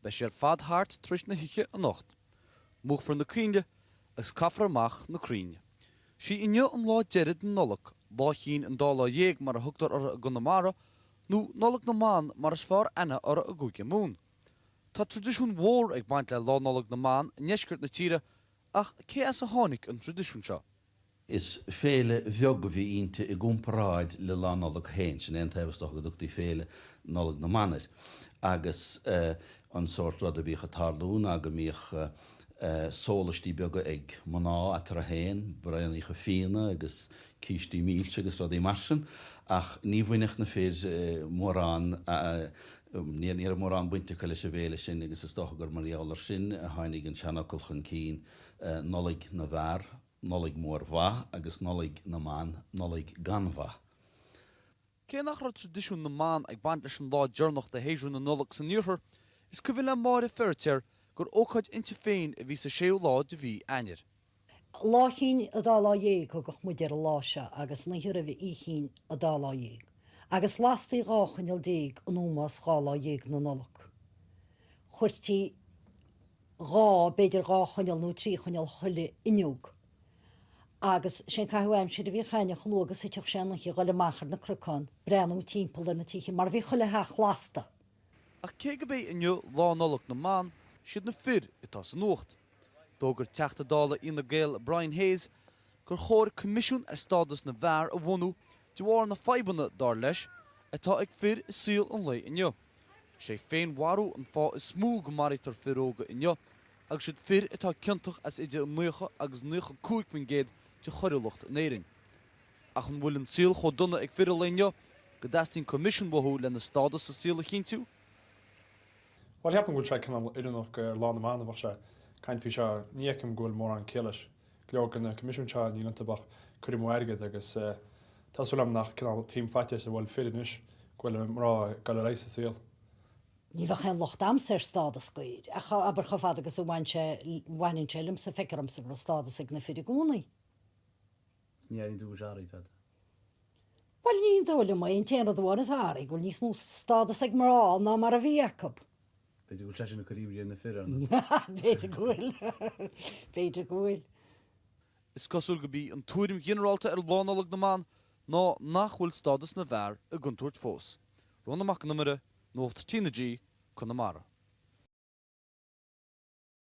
Beidh sé ar fad thart tar éis na hoíche anocht. Múchfar na coinnle agus caithfear amach na crainn. 'Sí inniu an lá deireadh den Nollaig, Lá Chinn an Dá Lá Dhéag mar a thugtar uirthi i gConamara, nó Nollaig na mBan mar is fearr aithne uirthi i gCúige Mumhan. Tá traidisiún mhór ag baint le Lá Nollag na mBan i ndeisceart na tíre, ach cé as a tháinig an traidisiún seo? Is féile bheag a bhí inti i gcomparáid le Lá Nollag féin, sin é an t-ábhar, is dócha, go dtugtaí Féile Nollag na mBan air, agus an sórt rud a bhíodh ag tarlú ná go mbíodh sólaistí beaga ag mná eatarthu féin, braoiníocha fíona agus cístí milse agus rudaí mar sin, ach ní bhainfeadh na fir mórán, ní raibh mórán baint acu leis an bhféile sin agus is dócha gur mar gheall air sin a tháinig an seanfhocal chun cinn, Nollaig na bhFear, Nollaig Mhór Mhaith agus Nollaig na mBan, Nollaig gan Mhaith. Cé nach raibh traidisiún na mban ag baint leis an lá deireanach de shéasúr na Nollag san Iarthar, is cuimhin le Máire Feiritéar gur ócáid inti féin a bhí sa séú lá de mhí Eanáir. Lá Chinn a Dá Lá Dhéag thugadh muid ar an lá seo agus an oíche roimhe Oíche Chinn a Dá Lá Dhéag, agus lastaí dhá choinneal déag in ómós dhá lá dhéag na Nollag. Chuirtí. dhá, b'fhéidir dhá choinneal nó trí choinneal chuile fhuinneog. Agus sé an caitheamh aimsire a bhíodh againn chomh luath agus a thiteadh sé an oíche a ghoil amach ar na cnocáin, breathnú timpeall ar na tithe, mar bhí chuile theach lasta! Ach cé gurb é inniu Lá Nollag na mBan, siad na fir atá sa nuacht. D'fhógair Teachta Dála Fhine Gael Brian Hayes gur chóir coimisiún ar stádas na bhfear a bhunú de bharr na fadhbanna, dar leis, atá ag fir i saol an lae inniu. Is é féinmharú an fáth is mó go maraítear fir óga inniu agus siad fir atá ciontach as idir 90 agus 95% de choiriúlacht in Éirinn. Ach an bhfuil an saol chomh dona ag fir an lae inniu go dteastaíonn coimisiún uathu lena stádas sa saol a chinntiú? Bhuel, ceapaim go bhfuil sé cineál oiriúnach gur Lá na mBan a bheadh sé, caint faoi seo. Ní fheicim go bhfuil mórán céille leis. Go leor de na coimisiúin seo, níl iontu ach cur amú airgid agus tá súil agam nach cineál taom faitíos a bhfuil fir anois go bhfuil mná ag dul ar aghaidh sa saol. Ní bheadh aon locht a'msa ar stádas dóibh, ach abair chomh fada agus a bhain sé, bhaineann sé liomsa, feictear dhomsa go raibh stádas ag na fir i gcónaí. Is ní airíonn tú gur athraigh tada. Bhuel, ní dóigh liom é, an t-aon rud amháin atá athraithe, go bhfuil níos mó stádas ag mná ná mar a bhí acu. B'fhéidir go bhfuil sé sin ag cur imní ar na fir. B'fhéidir go bhfuil. B'fhéidir go bhfuil. Is cosúil gurb í an tuairim ghinearálta ar Lá Nollag na mBan ná nach bhfuil stádas na bhfear i gcontúirt fós. Rónán Mac an Iomaire, Nuacht TnaG, Conamara.